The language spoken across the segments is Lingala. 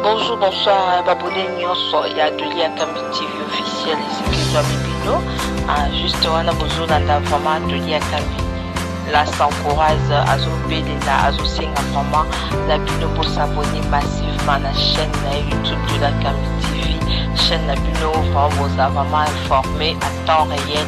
Bonjour, bonsoir, babone nyonso ya atelier ya Kambi TV officiel esikizwa bibino ah, juste wana bozolanda vraiment atelier ya Kambi la sancourage azobelela azosenga vraiment na bino bosabone massivement na chaîne na youtube de la Kambi TV chaîne na bino vraiment boza vraiment informé à temps réel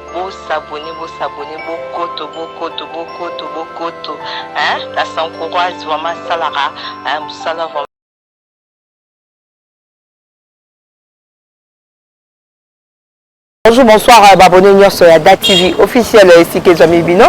Bo s'abonner bo s'abonner bo koto bo koto bo koto bo koto hein la sans courage vraiment asalaka hein musala vraiment. Bonjour, bonsoir, euh, abonné Nyorso ya Da TV officiel euh, esika ezwami bino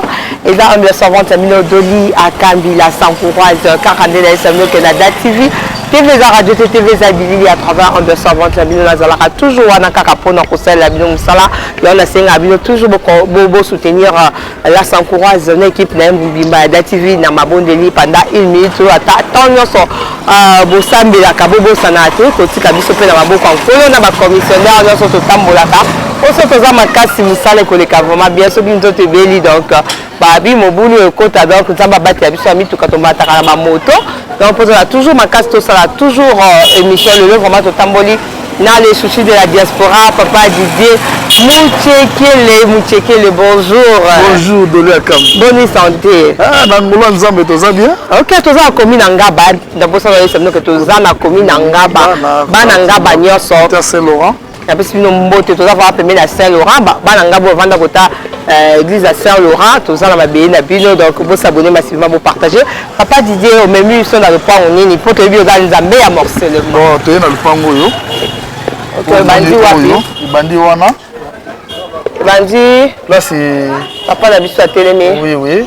eza ambiance servante ya mino doli akambi la sans courage euh, kaka nde nayesa bino ke na Da TV TV eza radio te TV eza bilili à travers ambiance servante ya bino nazalaka toujours wana kaka mpona kosalela bino mosala Donc nasenga bino toujours bosoutenir bo, bo la sancourage na équipe na ye mobimba ya datv na mabondeli pendant une minute oyo ata temps nyonso euh, bosambelaka bobosanaka te kotika biso mpe na maboko ya nkolo na bacommissionnaire nyonso totambolaka oso toza makasi mosala ekoleka vraiment bien soki nzoto ebeli donc Babi mobulu oyo ekota donc nzambe abatela biso ya mituka tomataka na bamoto donc mpo tozala toujours makasi tosala toujours euh, émission lelo vraiment totamboli na le souci de la diaspora papa didier muchekele muchekele bonjour bonjour dolo akam boni santé ah, na ngolo ya nzambe toza bien ok toza na komi na ngaba ndabosana yesa minoke toza na komi na ngaba bana ngaba nyonso terce laurent napesi bino mbote toza vraimen pembeni ya saint laurent bana ngai boyo vanda kota euh, église ya saint laurent toza na mabele na bino donc bosabone masivima bopartage papa didier omemi biso na lopango nini mpo toyebi oza nzambe ya morcelemo toye na lopango oyo ebandi wapi ebandi wana ebandi place papa na biso atelemi oui oui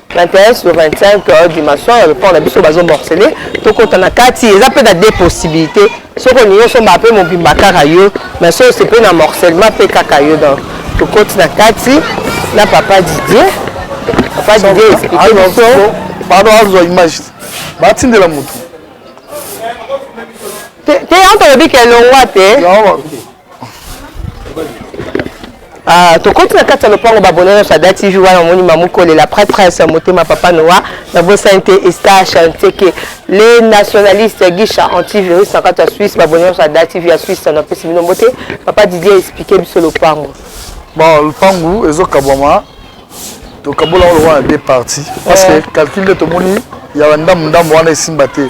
21 sur 25 euh, dimension ya report na biso bazo morcele tokota na kati eza mpe na deux possibilité soki olingi osomba mpe mobimba kaka yo mais soki ose mpe na morcellement mpe kaka yo donc tokoti na kati na papa didier papa didier explike biso pardon azwa image batindela motu te yanto olobi kelongwa te Ah, tokoti na kati ya lopango babone nyonso ada tv wana omoni mamukolela prêtresse motema papa noa nabosani te esta chanteke le nationaliste gisha antivirus na kati ya suisse babone nyonso ada tv ya suisse napesi bino mbote papa didier explike biso lopango bon lopango ezokabwama tokabola yango lokola na deux partie parce que eh. calcul nde tomoni ya bandambo ndambo wana esimba te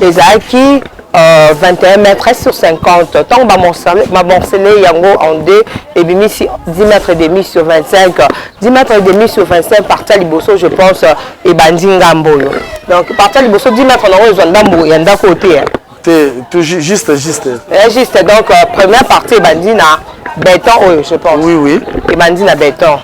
ezalaki euh, 21 mètres sur 50 ntango bamorsele yango en deux ebimisi 10 mètres demi sur 25 10 mètres demi sur 25 parti ya liboso je pense ebandi ngambo oyo donc parti ya liboso 10 mètres nango ezwa ndambo ya ndako oyo te te tout juste juste eh, juste donc euh, première partie ebandi na béton oyo je pense oui oui ebandi na béton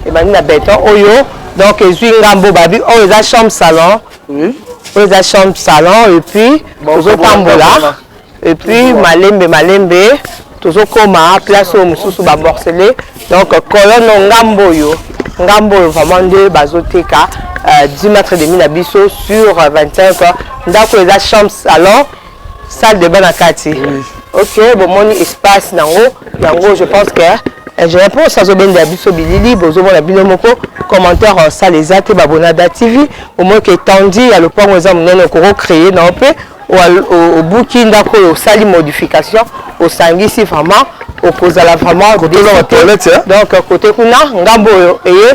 ebandi na béton oyo donc ezwi ngambo babi oyo eza chambre salon Oui. Oyo eza chambre salon et puis tozotambola et puis malembe malembe tozokoma place oyo mosusu bamorcele donc colonne ngambo oyo ngambo oyo vraiment nde bazoteka 10 euh, mètre demi na biso sur 25 ndako eza chambre salon salle de bain na kati ok bomoni espace nango yango je pense que ingénieur mpo osi azobenda ya biso bilili bozomona bino moko commentaire euh, sala eza te babonada tv bomoni ke etandi ya lopango eza monene okoko créer nango mpe obuki ndako oyo osali modification osangisi vraiment okozala vraiment donc euh, côté kuna ngambo oyo eye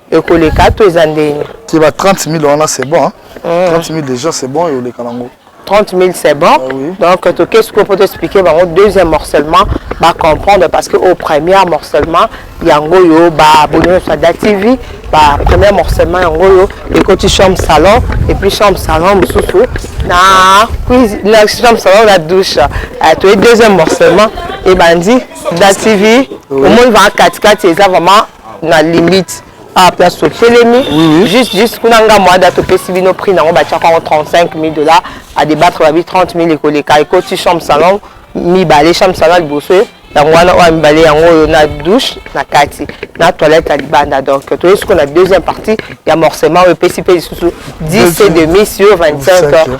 ekoleka to eza ndenge te ba 30 000 wana c'est bon hein? mm. 30 000 déjà c'est bon eoleka nango 30 000 c'est bon ah, oui. donc toke sikoyo mpo toexplike bango deuxième morcellement bacomprendre parce que au premier morcellement yango oyo baboni nyonso ya da tv ba premier morcellement yango oyo ekoti chambre salon et puis chambre salon mosusu na cuisine na chambre salon na douche euh, toye deuxième morcellement ebandi da tv omoni vaa katikati eza vraiment na limite ah place totelemi juste juste kuna nga moada topesi bino prix nango batiaka yango 35 000 dollars à débattre babi 30 000 ekoleka ekoti chambre salon mibale chambre salon liboso yango wana oyo mibale yango oyo na douche na kati na toilette ya libanda donc toyei sikoyo na deuxième partie ya morcement oyo epesi mpe lisusu 10 et demi sur 25 heures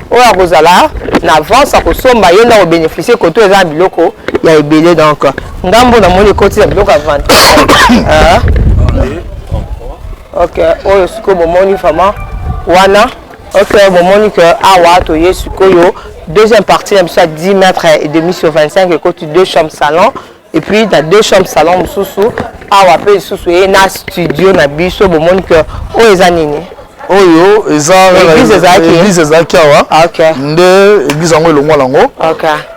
oyo akozala na avance akosomba ye nde akobeneficie koto eza na biloko ya ebele donc ngambo namoni ekoti na biloko ya vente ah. ok oyo sikoyo bomoni vraiment wana ok bomoni ke awa ah, toye sikoyo deuxième partie na biso ya 10 mètre et demi sur 25 ekoti deux chambre salon et puis na deux chambres salon mosusu awa mpe lisusu eye na studio na biso bomoni ke oyo eza nini oyo eza église ezalaki awa ah, nde église yango elongwa nango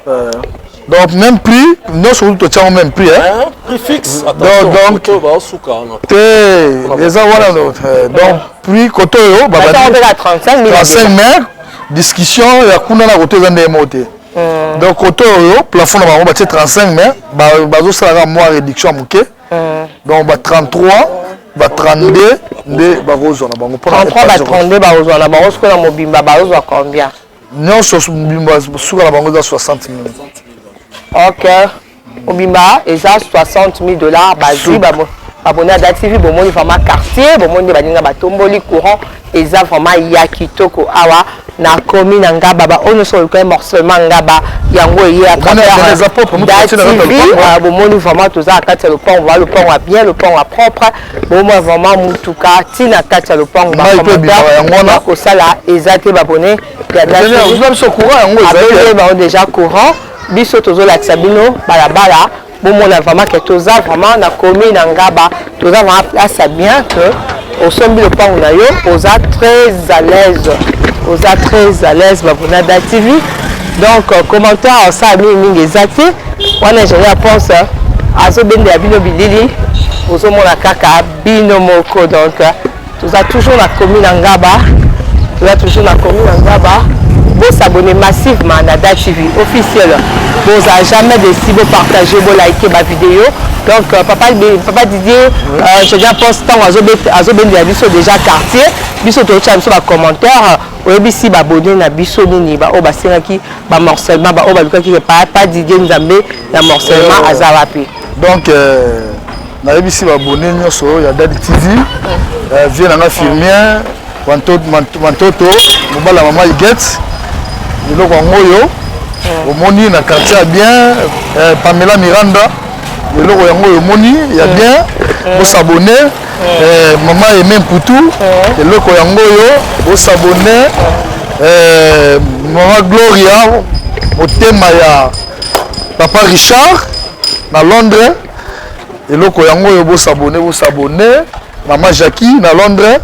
euh, donc même prix nyonso kutu totyango même prix te eza wana euh, donc prix kote oyo babandi 35 mètres discussion ya kuna na kote eza ndenge moko te mm. donc koto oyo plafond na bango batie 35 mais bazosala kaka mwa réduction ya moke mm. donc ba 33 ba 32 nde bakozwa na bango mpona 33 ba 32 bakozwa na bango soki na mobimba bakozwa combien nyonso mobimba suka na bango eza 60 minutes ok mobimba eza 60 000 dollars bazwi baboni ada tv bomoni vraiment quartier bomoni nde baninga batomboli courant eza vraiment ya kitoko awa na komi na ngaba baoyo nyonso olukai morcellement ngaba yango eye atravers bomoni vraiment toza na kati ya lopango baa lopango ya bien lopango ya propre bomoi vraiment motuka ntina kati ya lopango bakomata kosala eza te babone ya biso courant yango eza bango déjà courant biso tozolakisa bino balabala bomona vraiment ke toza vraiment na commune ya ngaba toza vraiment place ya bien que osombi lopango na yo oza très à l'aise oza très à l'aise babonada tv donc euh, commentaire osala mingi mingi eza te wana ezali ya pense euh, azobendela bino bilili ozomona kaka bino moko donc euh, toza toujours na commune ya ngaba toza toujours na commune ya ngaba bosabone massivement na da tv officiel bozala jamais desi bopartage bolike bavideo donc euh, papa, papa didier euh, je bien pense ntango azobendela biso déjà quartier biso toyotya biso bacommentaire oyebisi babone na biso nini baoyo basengaki bamorcellement baoyo balukaki papa didier nzambe na morcellement aza wapi donc euh... nayebisi babone nyonso ya dadi tv eh, vie na nga firmien mantoto mobala mama iget biloko yango oyo eh. omoni na quartier ya bien eh, pamela miranda eloko yango oyo omoni ya eh. bien eh. bosabone eh. mama eme mputu eloko yango oyo bosabone mama gloria motema ya papa richard na londres eloko yango oyo bosabone bosabone mama jacqui na londres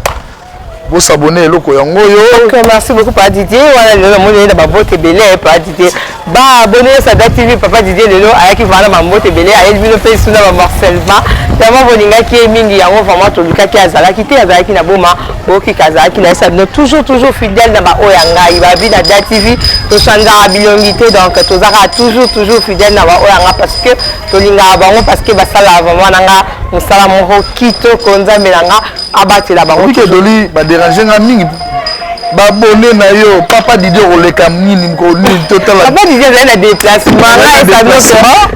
bosabone eloko yango oyo okay, merci beaucoup papa didier wana lelo namoni ye na babote ebele papa didier baabone yo sada tv papa didier lelo ayaki vraimen na bambote ebele ayeli bino mpe suna bamorcellement vraiment bolingaki ye mingi yango vraiment tolukaki azalaki te azalaki na boma boyokika azalaki na esa bino toujours toujours fidèle na baoyo ya ngai babi na da tv tosanzaka bilongi te donc tozalaka toujours toujours fidèle na baoyo ya ngai parce que tolingaka bango parce que basalaka vraiment na nga mosala moko kitoko nzambe na nga abatela bango oike doli baderange nga mingi babone na yo papa didi okoleka nini nini totalapapa didi azali na déplacement naesabiso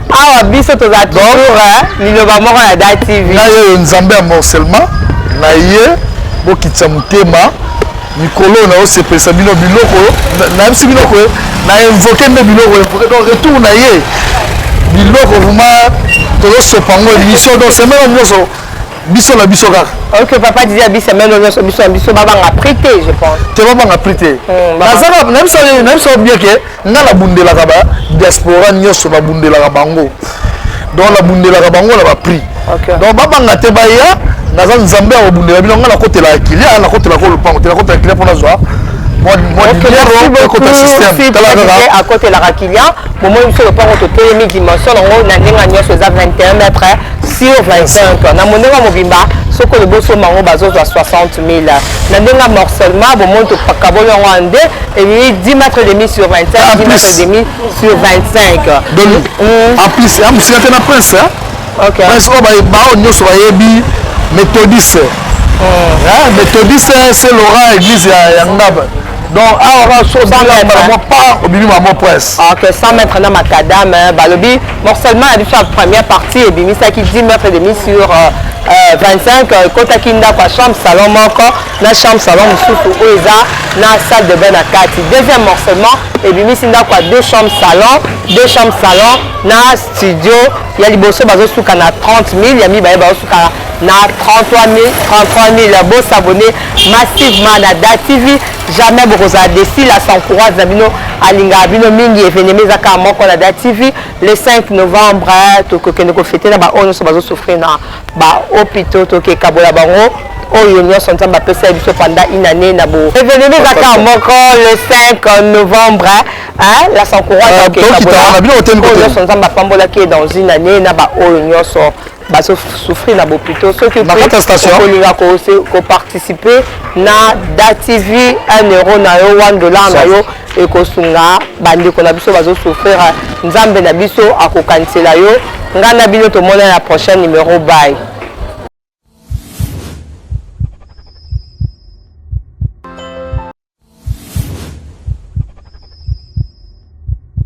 awa biso toza toujours liloba moko na da tv na yo yo nzambe ya morcellement na ye bokitisa motema Mikolo oyo nazo sepelisa bino biloko nayebisi bino que na invoquer nde biloko invoquer donc retour na ye biloko vraiment tozo sopa yango émission donc semaine oyo nyonso biso na biso kaka ok papa didi abi semaine oyo nyonso biso na biso babanga prix te je pense te babanga prix te hmm, nazanga nayebisa nayebisa bien que Nga na bundelaka ba diaspora nyoso na bundelaka bango donc na bundelaka bango na ba prix okay. donc babanga te baya naza nzambe ya kobundela bino nga nakotelaka kilia nakotelaka lopango te nakotelaka kilia mpo nazwa akotelaka client bomoni biso lopango totelemi dimension yango na ndenge nyonso eza 21 mètre sur 25 na mondenga mobimba soki olobi osomba yango bazozwa 60 000 na ndenge ya morcellement bomoni tokaboli yango ya nde elili 10 mètre demi sur 25 10 mètre demi sur 25 donc mm. en plus ya mosika te na prince okay. prince oyo oh, baoyo nyonso bayebi méthodiste mm. méthodiste c'est laurent église ya ngaba donc awa ah, kaka soki obimi bango mwa part obimi bango mwa prince ok 100 mètre na macadame balobi morcellement na biso ya première partie ebimisaki 10 mètres demi sur euh, euh, 25 euh, ekotaki ndako ya chambre salon moko na chambre salon mosusu oyo eza na salle de bain na kati deuxième morcellement ebimisi ndako ya deux chambre salon deux chambre salon na studio ya liboso bazosuka na 30 000 ya mibale bazosuka na 33 000 33 000 bosabone massivement na da tv jamais bokozala desi la sans courage na bino alingaka bino mingi evenema eza kaka moko na da tv le 5 novembre eh, tokokende kofete na baoyo nyonso bazosouffrir na bahopitaux tokekabola bango oyo nyonso nzambe apesa ye biso panda inane na bo evenema eza kaka moko le 5 novembre eh, la sans courage ah, nyonso nzambe apambolaki ye dans une année na baoyo nyonso bazo souffrir na bopito soki okolinga koparticipe na datv 1 euro na yo 1 dollar na yo ekosunga bandeko na biso bazo souffrir nzambe na biso akokanisela yo ngai na bino tomona na prochain numero bay